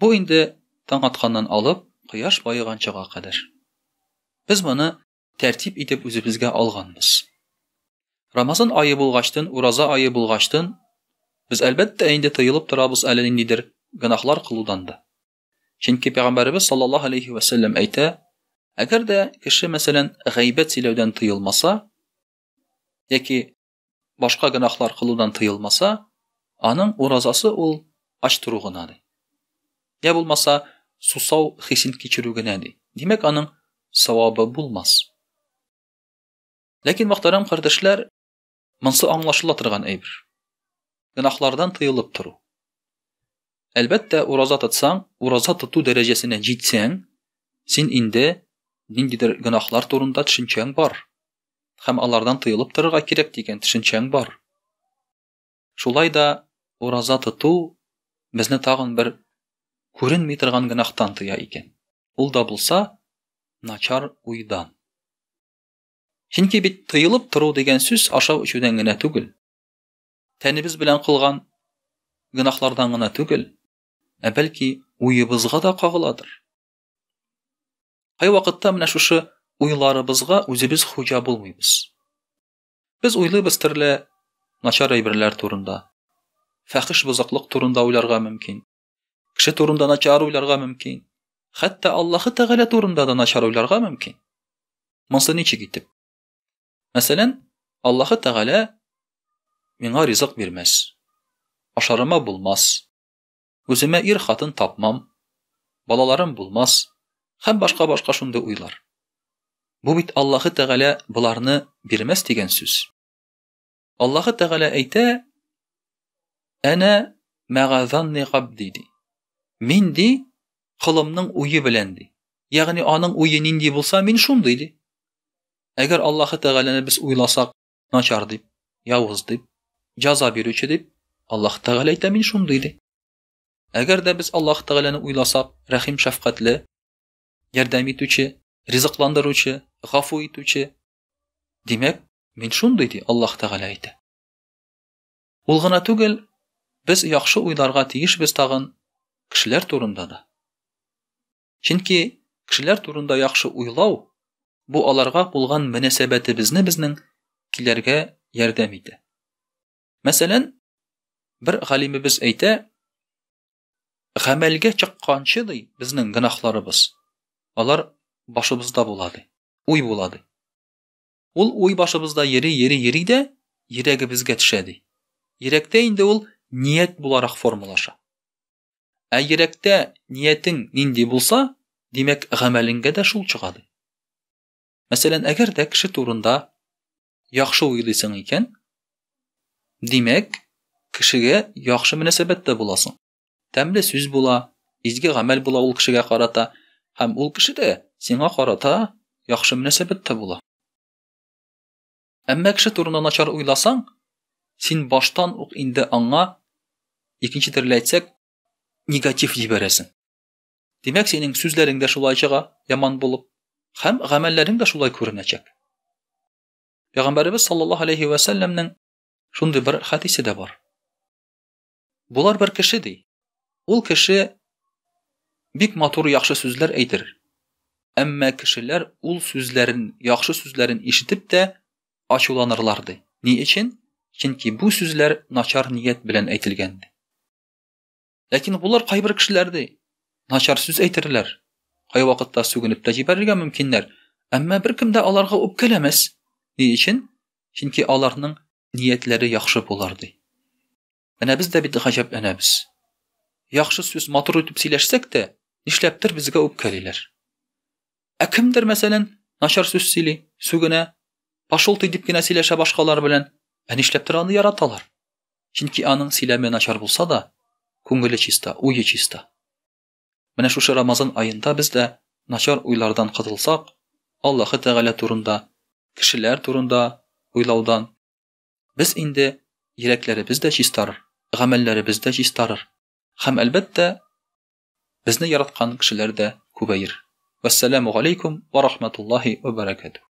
Бу инде таң атканнан алып, кояш баеганчага кадәр. Без моны тәртип итеп үзебезгә алганбыз. Рамазан ае булгачтын, ураза ае булгачтын, без әлбәттә инде тыелып торабыз әле ниндидер гөнаһлар кылудан да. Чөнки пәйгамбәребез саллаллаһу алейхи ва саллям әйтә, әгәр дә кеше мәсәлән гайбәт сөйләүдән тыелмаса, яки башка гөнаһлар кылудан тыелмаса, аның уразасы ул ач тору гына ди. Я булмаса, сусау хисен кичерү генә ди. Димәк, аның савабы булмас. Ләкин мөхтәрәм кардәшләр, монсы аңлашыла торган әйбер. Гөнаһлардан тыелып тору. Әлбәттә, ураза тотсаң, ураза тоту дәрәҗәсенә җитсәң, син инде ниндидер гөнаһлар турында төшенчәң бар. һәм алардан тыелып торырга кирәк дигән төшенчәң бар. Шулай да ураза тоту безне тагын бер күренми торган гөнаһтан тыя икән. Ул да булса, начар уйдан. Чөнки бит тыелып тору дигән сүз ашау эчүдән генә түгел. Тәнебез белән кылган гөнаһлардан гына түгел, ә бәлки уебызга да кагыладыр. Кайвакытта менә шушы уйларыбызга үзебез хуҗа булмыйбыз. Без уйлыйбыз төрле начар әйберләр турында. Фәхиш бозыклык турында уйларга мөмкин. Кеше турында начар уйларга мөмкин. Хәтта Аллаһы Тәгалә турында да начар уйларга мөмкин. Монсы ничек итеп? Мәсәлән, Аллаһы Тәгалә миңа ризык бирмәс. Ашарыма булмас. Үземә ир хатын тапмам, балаларым булмас һәм башка башка шундый уйлар. Бу бит Аллаһы Тәгалә боларны бирмәс дигән сүз. Аллаһы Тәгалә әйтә, Әнә мәгазанни габди ди. Мин ди, кылымның уе белән ди. Ягъни аның уе нинди булса, мин шундый ди. Әгәр Аллаһы Тәгаләне без уйласак, начар дип, явыз дип, җаза бирүче дип, Аллаһ Тәгалә әйтә мин шундый ди. Әгәр дә без Аллаһ Тәгаләне уйласак, рәхим шәфкатьле, ярдәм итүче, ризыкландыручы, гафу итүче, димәк, мин шундый ди Аллаһ Тәгалә әйтә. Ул гына түгел, без яхшы уйларга тиешбез тагын кешеләр турында да. Чөнки кешеләр турында яхшы уйлау бу аларга булган мөнәсәбәтебезне безнең киләргә ярдәм итә. Мәсәлән, бер галимебез әйтә, гамәлгә чыкканчы ди безнең гынахларыбыз, алар башыбызда була ди, уй була ди. Ул уй башыбызда йөри, йөри, йөри дә йөрәгебезгә төшә ди. Йөрәктә инде ул ният буларак формалаша. Ә йөрәктә ниятең нинди булса, димәк, гамәлеңгә дә шул чыга ди. Мәсәлән, әгәр дә кеше турында яхшы уйлыйсың икән, димәк, кешегә яхшы мөнәсәбәттә буласың. Тәмле сүз була, изге гамәл була ул кешегә карата, һәм ул кеше дә сиңа карата яхшы мөнәсәбәттә була. Әмма кеше турында начар уйласаң, син баштан ук инде аңа, икенче төрле әйтсәк, негатив җибәрәсең. Димәк, синең сүзләрең дә шулай чыга, яман булып, һәм гамәлләрең дә шулай күренәчәк. Пәйгамбәребез саллаллаһу алейхи ва сәлләмнең шундый бер хәдисе дә бар. Болар бер кеше ди. Ул кеше бик матур яхшы сүзләр әйтер. Әмма кешеләр ул сүзләрен, яхшы сүзләрен ишетеп тә ачуланырлар ди. Ни өчен? Чөнки бу сүзләр начар ният белән әйтелгән ди. Ләкин булар кайбер кешеләр ди, начар сүз әйтерләр, кайвакытта сүгенеп тә җибәрергә мөмкиннәр, әмма беркем дә аларга үпкәләмәс. Ни өчен? Чөнки аларның ниятләре яхшы булыр, ди. Менә без дә бит гаҗәпләнәбез. Яхшы сүз матур итеп сөйләшсәк тә, нишләптер безгә үпкәлиләр. Ә кемдер, мәсәлән, начар сүз сөйли, сүгенә, пошел ты дип кенә сөйләшә башкалар белән, ә нишләптер аны яраталар. Чөнки аның сөйләме начар булса да, күңеле чиста, уе чиста. Менә шушы Рамазан аенда без дә начар уйлардан котылсак, Аллаһы Тәгалә турында, кешеләр турында уйлаудан, без инде йөрәкләребез дә чистарыр, гамәлләребез дә чистарыр һәм, әлбәттә, безне яраткан кешеләр дә күбәер. Вәссәламү галәйкүм вә рахматуллаһи вә бәрәкәтүһ.